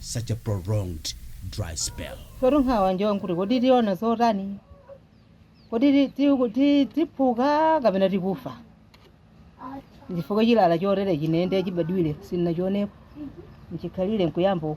such a prolonged dry spell. Sotu nkhawa njoti nkuti kodi tiona zotani? Kodi ti- ti- ti- tiphuka kapena tikufa? Chifukwa chilala chotere chinene chibadwire sinnachionepo nchikhalire nkuyamba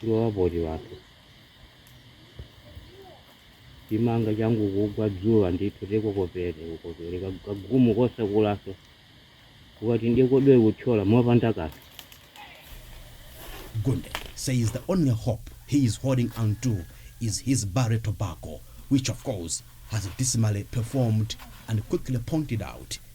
kulowa poti wathu chimanga changu kugwa dzuwa ndithu tikokopere ukopere ka- kagumu kosakulanso ukati ndikodwe kuthyola mopanda kanthu Gunde says the only hope he is holding on to is his burley tobacco, which of course has dismally performed and quickly pointed out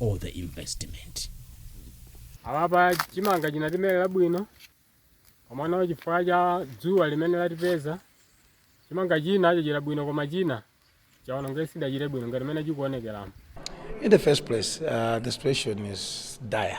all the investment. Apapa chimanga chinatimerera bwino komano chifukwa cha dzuwa limene latipeza chimanga china chachira bwino koma china chaonongeka sichidachire bwino ngati mene chikuonekeramo. In the first place, uh, the situation is dire.